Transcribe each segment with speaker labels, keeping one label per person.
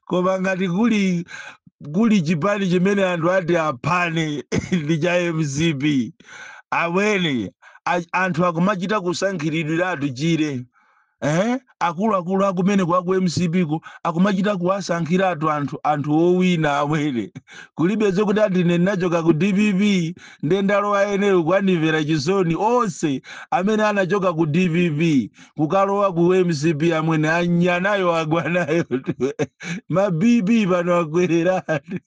Speaker 1: koma ngati kuli chipani chimene anthu ati aphane ndi cha mcp amwene a- anthu akumachita kusankhiridwira tchire eh? akuluakulu akumene kwa ku mcp ko akumachita kuwasankhiratu anthu anthu owina amwene kulibe zokuti ati ine ndinachoka ku dpp ndiye ndalowa enero kwanimvera chisoni onse amene anachoka ku dpp kukalowa ku mcp amwene anyanayo agwa nayo mabp pano akwereratu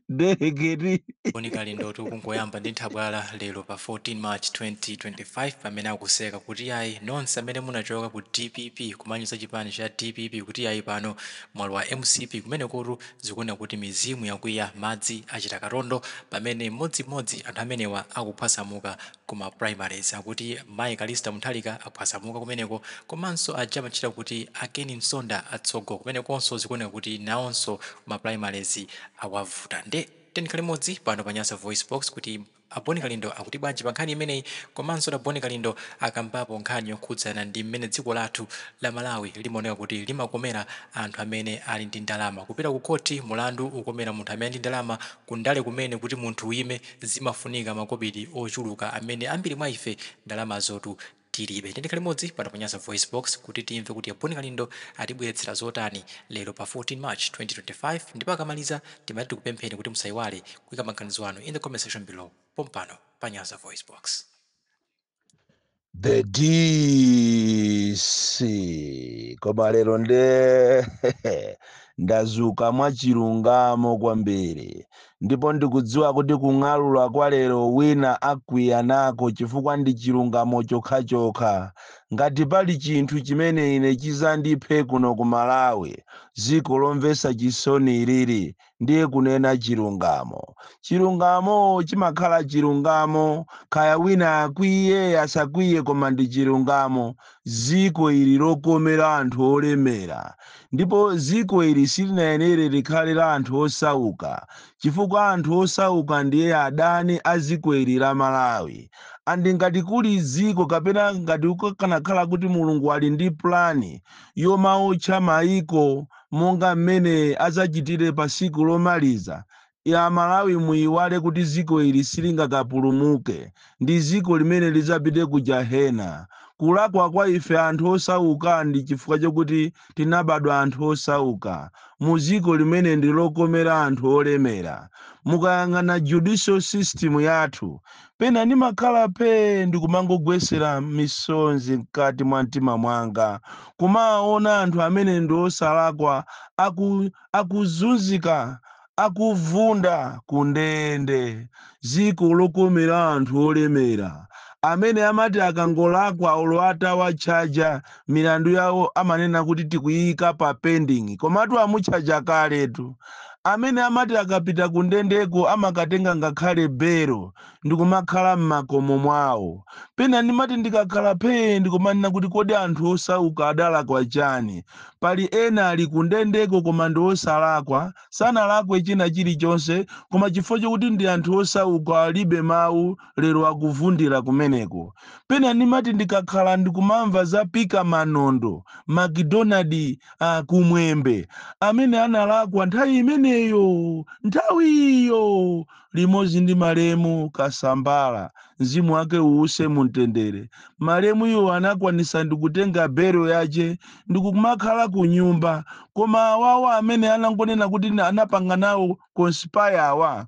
Speaker 1: dereketi Boni
Speaker 2: kalindotu kungoyamba ndi nthabwala lero pa 14 march 2025 pamene akuseka kuti ayi nonse amene munachoka ku dpp kumanyoza chipani cha dpp kuti ayi pano mwalowa mcp kumenekotu zikuoneka kuti mizimu yakwiya madzi achita katondo pamene mmodzimmodzi anthu amenewa akuphwasamuka ku ma primaries akuti mayi Callista Mutharika aphwasamuka kumeneko komanso aja amatchedwa kuti a Ken Msonda atsogo kumenekonso zikuoneka kuti nawonso ma primaries awavuta nde tiyeni tikhale limodzi pano pa Nyasa VoiceBox kuti a Bon Kalindo akuti bwanji pa nkhani imeneyi komanso kuti a Bon Kalindo akambapo nkhani yokhudzana ndi mmene dziko lathu la Malawi limaoneka kuti limakomera anthu amene ali ndi ndalama kupita ku khothi mulandu ukomera munthu amene ali ndi ndalama ku ndale kumene kuti munthu uyime zimafunika makobiri ochuluka amene ambiri mwa ife ndalamazotu tilibe. Tiyeni tikhale limodzi pano pa Nyasa VoiceBox kuti timve kuti a Bon Kalindo atibweretsera zotani lero pa 14 March 2025 ndipo akamaliza timati tikupempheni kuti musaiwale kuika maganizo anu in the comment section below pompano pa Nyasa VoiceBox.
Speaker 1: the dc koma lero nde ndazuka mwachilungamo kwambiri ndipo ndikudziwa kuti kung'alula kwa lero wina akwiya nako chifukwa ndi chilungamo chokhachokha ngati pali chinthu chimene ine chizandiphe kuno ku malawi dziko lomvetsa chisoni ilili ndiye kunena chilungamo. Chilungamo chimakhala chilungamo, kaya wina akwiye asakwiye, koma ndi chilungamo. Dziko ili lokomera anthu olemera, ndipo dziko ili silinayenere likhale la anthu osauka, chifukwa anthu osauka ndiye adani a dziko ili la Malawi. And ngati kuli dziko kapena ngati kukanakhala kuti Mulungu ali ndi plan yomaotcha maiko, monga mmene adzachitire pa siku lomaliza la malawi muiwale kuti dziko ili silingakapulumuke ndi ziko limene lidzapite ku jahena kulakwa kwa ife anthu osaukaa ndi chifukwa chokuti tinabadwa anthu osauka mu ziko limene ndi lokomera anthu olemera mukayang'ana judicial system yathu Pena ndimakhala phee ndikumangogwetsera misonzi mkati mwa mtima mwanga, kumawaona anthu amene ndi osalakwa aku akuzunzika, akuvunda ku ndende. Dziko lokomera anthu olemera, amene amati akangolakwa olo atawatchaja milandu yawo amanena kuti tikuyiyika pa pending komatu amutchaja kaletu amene amati akapita kundendeko amakatenga ngakhale belo ndikumakhala m'makomo mwawo pena ndimati ndikakhala phee ndikumanena kuti kodi anthu osauka adalakwa chani pali ena ali kundendeko koma ndi osalakwa sanalakwe china chilichonse koma chifukwa chokuti ndi anthu osauka alibe mawu lero akuvundira kumeneko. Pena ndimati ndikakhala ndikumamva za Pika Manondo, McDonald uh, Kumwembe amene analakwa nthawi imeneyo, nthawiyo limodzi ndi malemu Kasambala, mzimu wake uuse mumtendere. Malemuyo anakwanisa ndikutenga belo yache ndikumakhala ku nyumba, koma awawa amene anangonena kuti anapanga nawo conspire awa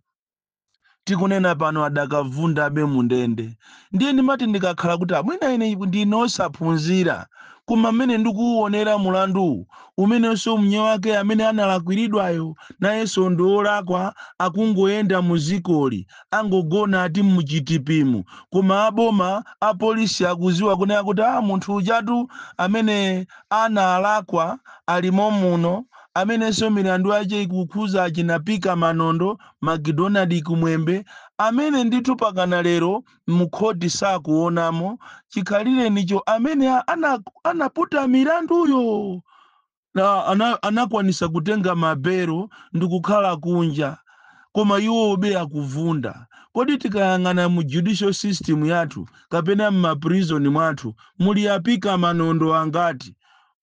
Speaker 1: tikunena pano adakavundabe mundende ndiye ndimati ndikakhala kuti a mwina ine ndine osaphunzira koma mmene ndikuwuonera mulanduwu umenenso mnyewake amene analakwiridwayo nayenso ndi olakwa akungoyenda mdzikoli angogona ati muchitipimu koma aboma apolisi akuziwa kunena kuti a munthu ujatu amene analakwa alimo muno amenenso milandu yache ikukhuza achina pika manondo McDonald Kumwembe, amene ndithu pakana lero mukhoti sakuonamo chikhalirenicho amene ana anaputa milanduyo na ana anakwanisa kutenga ma belo ndikukhala kunja koma iwobe akuvunda. Kodi tikayang'ana mu judicial system yathu kapena m'ma prison mwathu muli a Pika Manondo angati?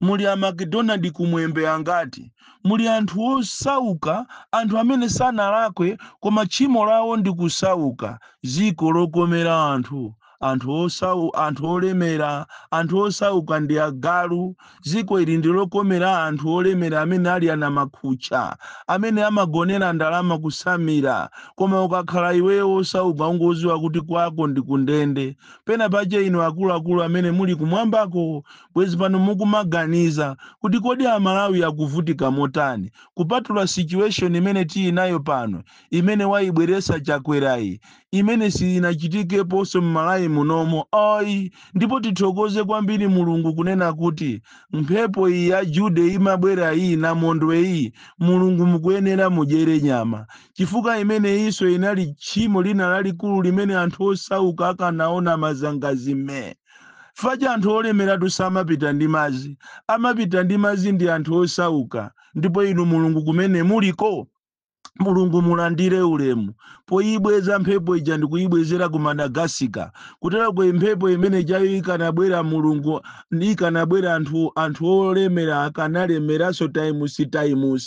Speaker 1: Muli a McDonald Kumwembe angati? Muli anthu osauka, anthu amene sanalakwe koma tchimo lawo ndi kusauka. Dziko lokomera anthu, anthu osau, anthu olemera, anthu osauka ndi agalu. Dziko ili ndi lokomera anthu olemera amene ali anamakhutcha, amene amagonera ndalama kutsamira. Koma ukakhala iweyo osauka ungoziwa kuti kwako ndi kundende. Pena pache inu akuluakulu amene muli kumwambako Bwezi pano mukumaganiza kuti kodi a Malawi akuvutika motani kupatula situation imene tinayo pano imene waibweretsa Chakwerayi imene siinachitikeponso m'Malawi munomo ai ndipo tithokoze kwambiri Mulungu kunena kuti mphepo iyi ya Jude imabwera iyi Namondwe iyi Mulungu mukuyenera mudyere nyama chifukwa imeneyinso inali tchimo lina lalikulu limene anthu osauka akanaona mazangazi mmee Paja anthu olemeratu samapita ndi madzi, amapita ndi madzi ndi anthu osauka, ndipo Inu Mulungu kumene muliko, Mulungu mulandire ulemu poyibweza mphepo ija ndikuyibwezera ku Madagascar, kuteroko mphepo imene ijayo ikanabwera Mulungu ikanabwera anthu anthu olemera akanalemeranso times times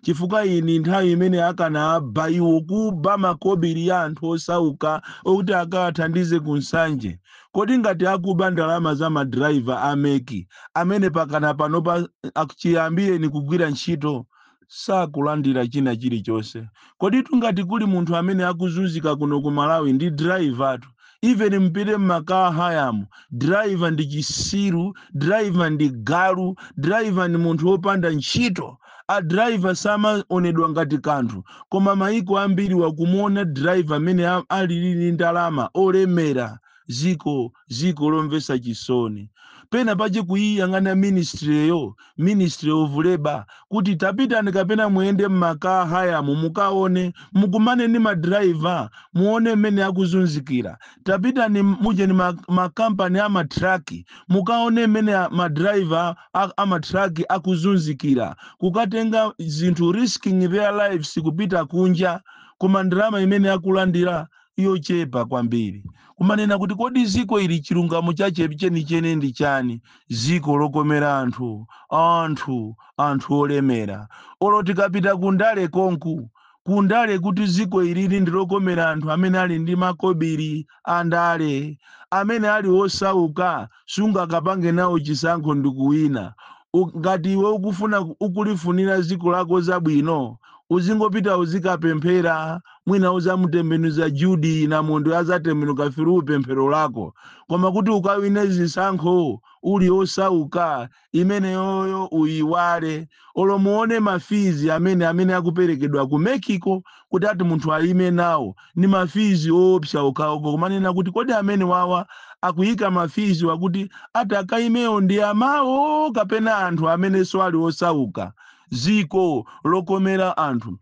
Speaker 1: chifukwa iyi ndi nthawi imene akanaba iwo kuba makobiri ya anthu osauka okuti akawathandize ku Nsanje. Kodi ngati akuba ndalama za ma driver a MEC amene pakana panopa chiyambireni kugwira ntchito sakulandira china chilichonse, koditu ngati kuli munthu amene akuzunzika kuno ku Malawi ndi driver tu, even mupite mma car hire-mu, driver ndi chisiru, driver ndi galu, driver ndi munthu opanda ntchito. A driver samaonedwa ngati kanthu koma maiko ambiriwa kumuona driver mmene alili ndi ndalama olemera dziko dziko lomvetsa chisoni pena pache kuiyang'ana ministry yo ministry of labour kuti tapitani kapena muyende mma car hire mu mukaone mukumane ndi ma driver muone mmene akuzunzikira tapitani mu nji ma ma company ama truck mukaone mmene a- ma driver a, a ma truck akuzunzikira kukatenga zinthu risking their lives kupita kunja koma ndalama imene akulandira yochepa kwambiri kumanena kuti kodi dziko ili chilungamo chache chenicheni ndi chani dziko lokomera anthu anthu anthu olemera olo tikapita kundale konku kundale kuti dziko ilili ndilokomera anthu amene ali ndi makobiri wandale amene ali wosauka sungakapange nawo chisankho ndikuwina. U, ngati iwe ukufuna ukulifunira dziko lako zabwino uzingopita uzikapemphera mwina uzamutembenuza Jude Namondwe yazatembenuka through pemphero lako. Koma kuti ukawine zisankho uli osauka imeneyoyo uyiwale olo muone ma fees amene amene akuperekedwa ku MEC-ko kuti ati munthu ayime nawo ndi ma fees oopsa okhawo kumanena kuti kodi amene wawa akuyika ma fees wa kuti ati akayimewo ndi amawo kapena anthu amenenso ali osauka dziko lokomera anthu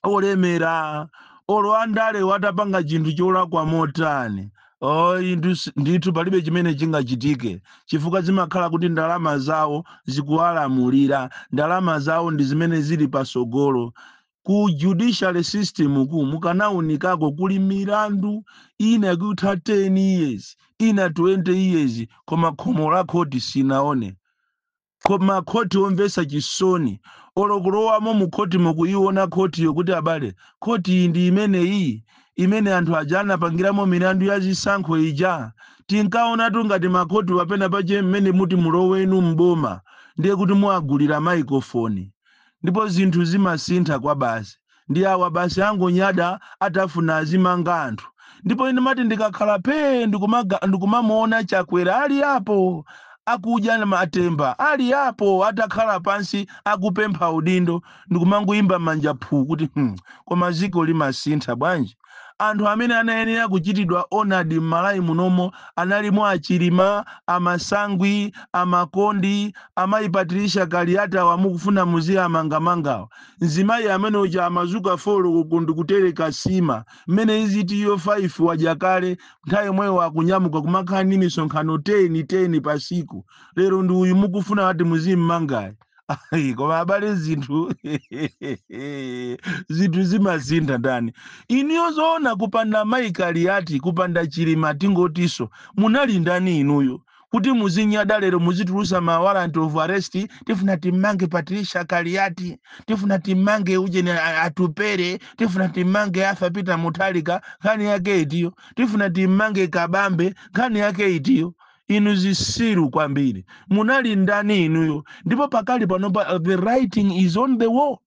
Speaker 1: olemera olo andale watapanga chinthu cholakwa motani oh, indu si- ndithu palibe chimene chingachitike chifukwa zimakhala kuti ndalama zawo zikuwalamulira ndalama zawo ndi zimene zili pasogolo ku judicial system ku mukanaunikako kuli milandu ina yakutha 10 years ina 20 years koma khomo la khoti sinaone Koma makhoti omvesa chisoni olo kulowamo mu khoti mo kuyiwona khoti yo kuti abale khoti iyi ndi imeneyi imene anthu aja anapangiramo milandu ya zisankho ija tinkawonatu ngati ma khoti wa pena pache mmene muti mulowe inu m'boma ndiye kuti muwagulira maikofoni ndipo zinthu zimasintha kwabasi. ndi awa basi angonyada atafuna azimanga anthu ndipo ine mati ndikakhala phee ndikumaga- ndikumamuona chakwera ali apo akudya na matemba ali apo atakhala pansi akupempha udindo ndikumangowomba manja phu kuti hmm, koma ziko limasintha bwanji Anthu amene anayenera kuchitidwa honored m'Malawi munomo analimo a Chilima, a Masangwi, a Makondi, a mayi Patricia Kaliati awa mukufuna muziamangamangawa. Mzimayi amene uja amazuka 4 koloko ndikutereka sima, mmene iziti iyo 5 wadya kale, nthawi yomweyo akunyamuka kumakhala ndi misonkhano 10, 10 pa siku. Lero ndi uyu mukufuna ati muzimmangayi. Ayi, koma abale zinthu zinthu zimasintha ndani inuyo zoona kupanda mayi kaliyati kupanda chilima tingotiso munali ndani inuyo kuti muzinyada lero muzitulusa ma warrant of arrest tifuna timmange patricia kaliyati tifuna timmange ujeni a- atupere tifuna timmange Arthur peter muthalika nkhani yake itiyo tifuna timmange kabambe nkhani yake itiyo inu zisiru kwambiri munali ndani inuyo ndipo pakali panopa uh, the writing is on the wall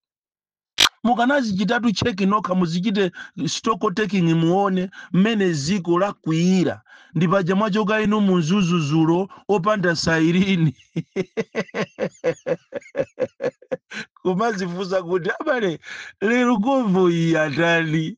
Speaker 1: mukanazichitatu cheki nokha muzichite stock taking muone mmene ziko lakwiyira ndi paja mwachoka inu mudzuludzulo opanda sayirini kumazifunsa kuti abale lero govo iyi atani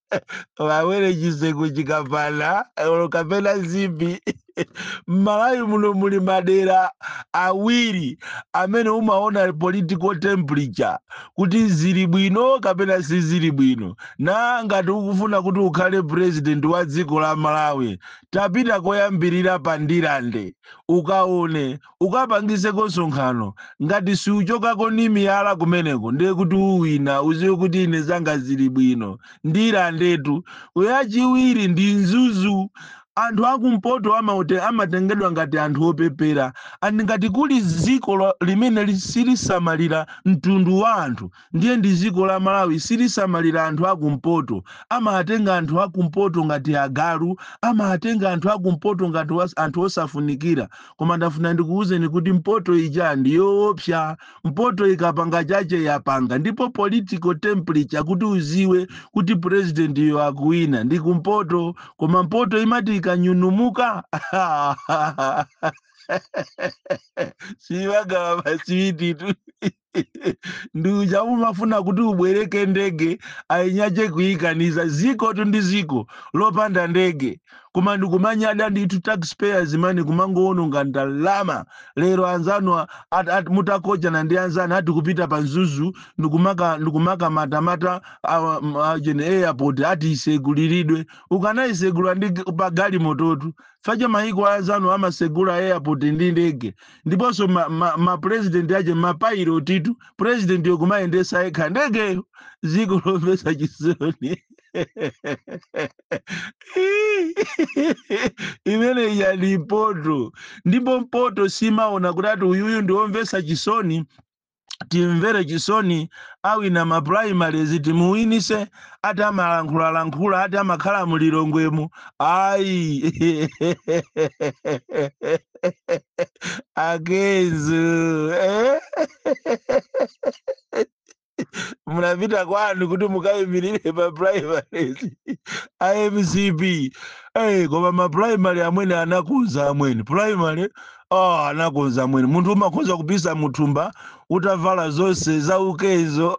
Speaker 1: wawere chiseko chikapana olo kapena zipi m'malawi muno muli madera awiri amene umaona political temperature kuti zili bwino kapena sizili bwino na ngati ukufuna kuti ukhale president wa dziko la malawi tapita koyambirira pa ndirande ukaone ukapangiseko nsonkhano ngati siuchokako ni miyala kumeneko ndiye kuti uwina uziwe kuti ine zanga zili bwino ndirandetu uyu wachiwiri ndi mzuzu anthu akumpoto amaote amatengedwa ngati anthu opepera and ngati kuli dziko lo- limene li- silisamalira mtundu wa anthu Ndiye ndi ziko la Malawi silisamalira anthu aku mpoto amawatenga anthu aku mpoto ngati agalu amawatenga anthu aku mpoto ngati was, anthu osafunikira koma ndafuna ndikuwuzeni kuti mpoto ija ndi yoopsa mpoto ikapanga chache yapanga ndipo political temperature kuti uziwe kuti president yo akuwina ndi kumpoto koma mpoto imati ikanyunumuka siyigawa maswititu ndi uja umafuna kuti ubwereke ndege ainyache kuikaniza ziko tu ndi ziko lopanda ndege koma ndikumanyada ndithu taxpayers money kumangowononga ndalama lero anzanu a- at- at- mutakochana ndi anzanu ati kupita pa Mzuzu ndikumaka ndikumaka matamata awa- m- a- jeni airport ati iseguliridwe ukanayisegula ndi g- pa galimototu facha mayiko a anzanu amasegula airport ndi ndege ndiponso ma, ma, ma president ache mapailotitu president yo kumayendesa yekha ndegeyo ziko lomvesa chisoni imeneyo ndi mpoto ndipo mpoto simaona kuti ati uyuyu ndiwomvesa chisoni timvere chisoni awina ma primaries timuwinise ati amalankhulalankhula ati amakhala mulilongwemu ayi a Kenzo eh? munapita kwanu kuti mukayimirire pa primaries a mcp hey, koma ma primary amwene anakonza amwene primary oh anakonza amwene munthu umakhoza kupisa muthumba utavala zonse za ukenzo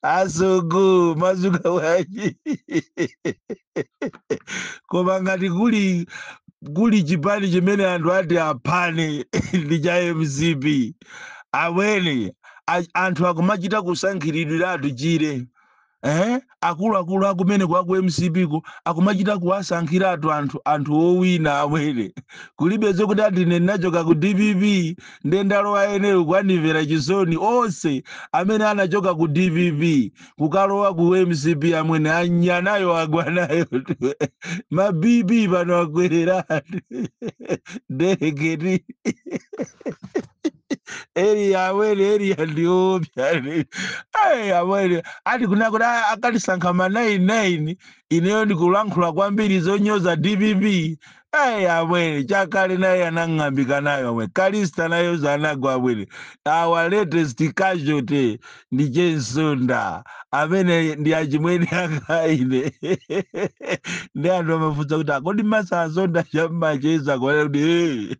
Speaker 1: asogo mazuka waji koma ngati kuli kuli chipani chimene anthu ati aphane ndi cha mcp amwene a- anthu akumachita kusankhiridwiratu chire eh akuluakulu akumeneko aku mcp ko akumachita kuwasankhiratu anthu anthu owina amwene kulibe zokuti ati ine ndinachoka ku dpp nde ndalowa ineyo kwanimvera chisoni onse amene anachoka ku dpp kukalowa ku mcp amwene anya nayo agwa nayo ma bp pano akwereratu dereketi area amwene area ndiopsya amwene ati kuna kuti a- akatisankha ma 99 ineyo ndikulankhula kwambiri zonyoza dpp amwene Chakale naye anang'ambika nayo amwene Kalista nayoso anagwa amwene our latest casualty ndi che Msonda amene ndi achimwene anga ine ndi anthu amafunsa kuti akodi mesa Msonda chamacheza kwanaa kuti "Eh,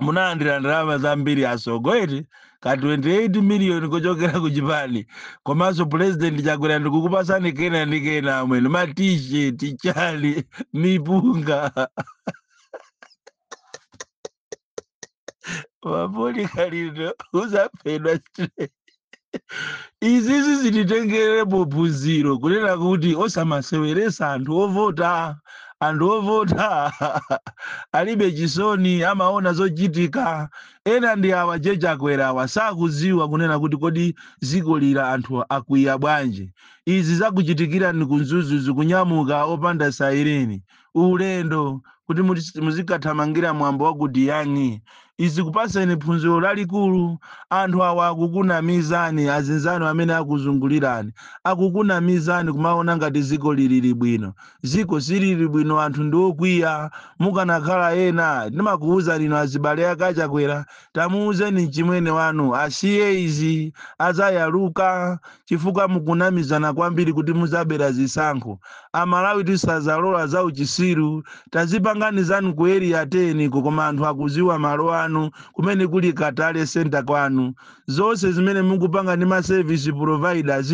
Speaker 1: munalandira ndalama zambiri asogoleri ka 28 miliyoni kuchokera ku chipani komanso pulezidenti chakwera ndikukupasani kena ndi kena amwene ma t-shirt chali mipunga mapoli kalindo uzaphedwa straight izizi zititengerepo phunziro kunena kuti osamaseweresa anthu ovota anthu ovota alibe chisoni amaona zochitika ena ndi awa a Chakwera awa sakuziwa kunena kuti kodi ziko lili anthu akwiya bwanji izi zakuchitikirani ku Mzuzu kunyamuka opanda saireni ulendo kuti muti- muzikathamangira mwambo wa ku diyani izi zikupaseni phunziro lalikulu anthu awa akukunamizani azinzanu amene akuzungulirani akukunamizani kumaona ngati ziko lilili bwino ziko silili bwino anthu ndi okwiya mukanakhala ena ndimakuwuzani inu azibale akachakwera tamuwuzeni mchimwene wanu asiye izi azayaluka chifukwa mukunamizana kwambiri kuti muzabera zisankho amalawi tisazalola za uchisiru tazipangani zanu ku area 10 ko koma anthu akuziwa malo anu kumene kuli ka tally center kwanu zonse zimene mukupanga ndi ma service providers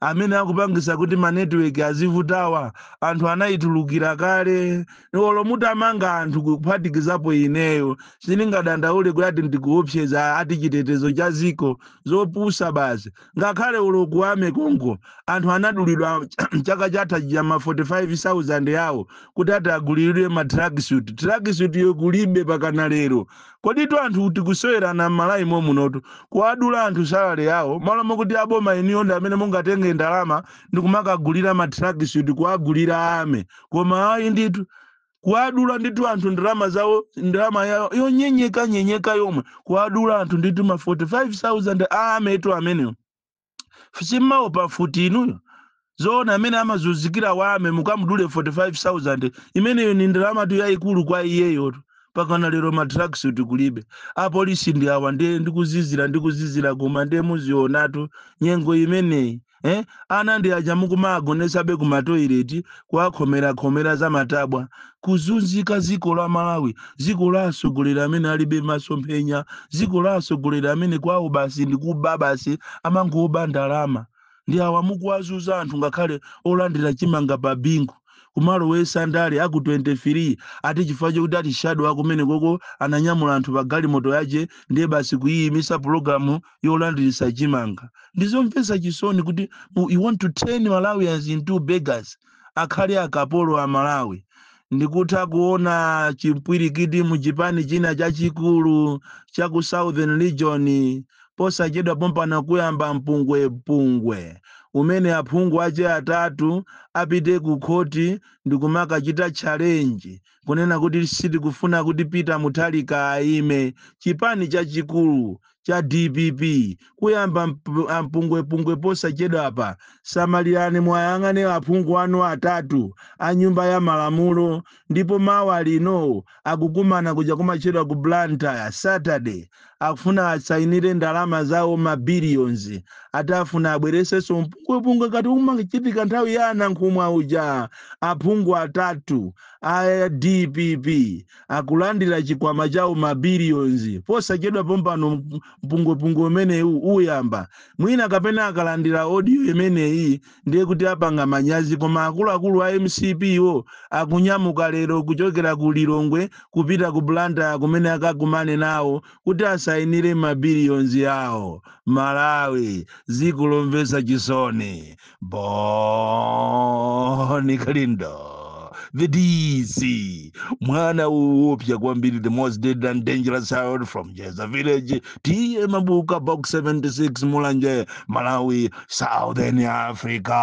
Speaker 1: amene akupangisa kuti ma network azivutawa anthu anayitulukira kale olo mutamanga anthu kuphatikizapo ineyo sindingadandaule kuti ati ndikuopseza ati chitetezo cha ziko zopusa basi Ngakhale olo ku army konko anthu anadulidwa chaka chatha chija ma 45000 yawo kuti ati agulilidwe ma tracksuit. Tracksuit yo kulibe pakana lero. Koditu anthu tikusewerana m'Malawi momunotu. Kuwadula anthu salary yawo malo mokuti aboma inuyo ndi amene mungatenge ndalama ndikumakagulira ma tracksuit kuwagulira army. Koma ayi ndithu. kuwadula ndithu anthu ndalama zawo ndalama yawo yonyenyeka nyenyeka yomwe kuwadula anthu ndithu ma 45000 a army tu amenewo simmawo pa mfuti inuyo zoona mmene amazunzikira wa army mukamudule 45000 imeneyo ni ndalamatu yayikulu kwa iyeyotu pakana lero ma tracksuit kulibe apolisi ndi awa ndiye ndikuzizira ndikuzizira koma ndiye muzionatu nyengo imeneyi eh? ana ndi aja mukumagonesabe ku matoileti kuwakhomerakhomera za matabwa kuzunzika ziko la malawi ziko la asogoleri amene alibe masomphenya ziko la asogoleri amene kwawo basi ndi kuba basi amangoba ndalama ndi awa mukuwazunza anthu ngakhale olandira chimanga pa bingu kumalowesa ndale aku 23 ati chifukwa chokuti ati shadow akumene koko ananyamula anthu pa galimoto yache ndiye basi kuyiyimisa pulogalamu yolandiritsa chimanga ndizomvetsa chisoni kuti u- you want to turn malawians into beggars akhale akapolo a malawi ndikutha kuona chimpwirikiti mu chipani china chachikulu cha ku southern region posachedwa pompano kuyamba mpungwepungwe umene aphungu ache atatu apite ku khoti ndikumakachita challenge kunena kuti sitikufuna kuti Peter Mutharika aime, chipani chachikulu cha dpp kuyamba mp- ampungwepungwe posachedwapa. Samalirani muwayang'ane aphungu anu atatu a nyumba ya malamulo ndipo mawa lino akukumana kuja kumatchedwa ku Blantyre Saturday Akufuna asainire ndalama zawo ma billions ati afuna abweretsenso mpungwepungwe ngati umachitika nthawi ya a Nankhumwa uja. Aphungu atatu a dpp akulandira chikwama chawo ma billions posachedwa pompano mpungwepungwe umenewu uyamba. Mwina kapena akalandira audio imeneyi ndiye kuti apanga manyazi koma akuluakulu a mcp wo akunyamuka lero kuchokera ku lilongwe kupita ku blantyre kumene akakumane nawo kuti asayinire mabilions awo malawi dziko lomvetsa chisoni bon kalindo the dc mwana woopsya kwambiri the most dead and dangerous child from njedza village tiye mabuka box 76 mulanje malawi southern africa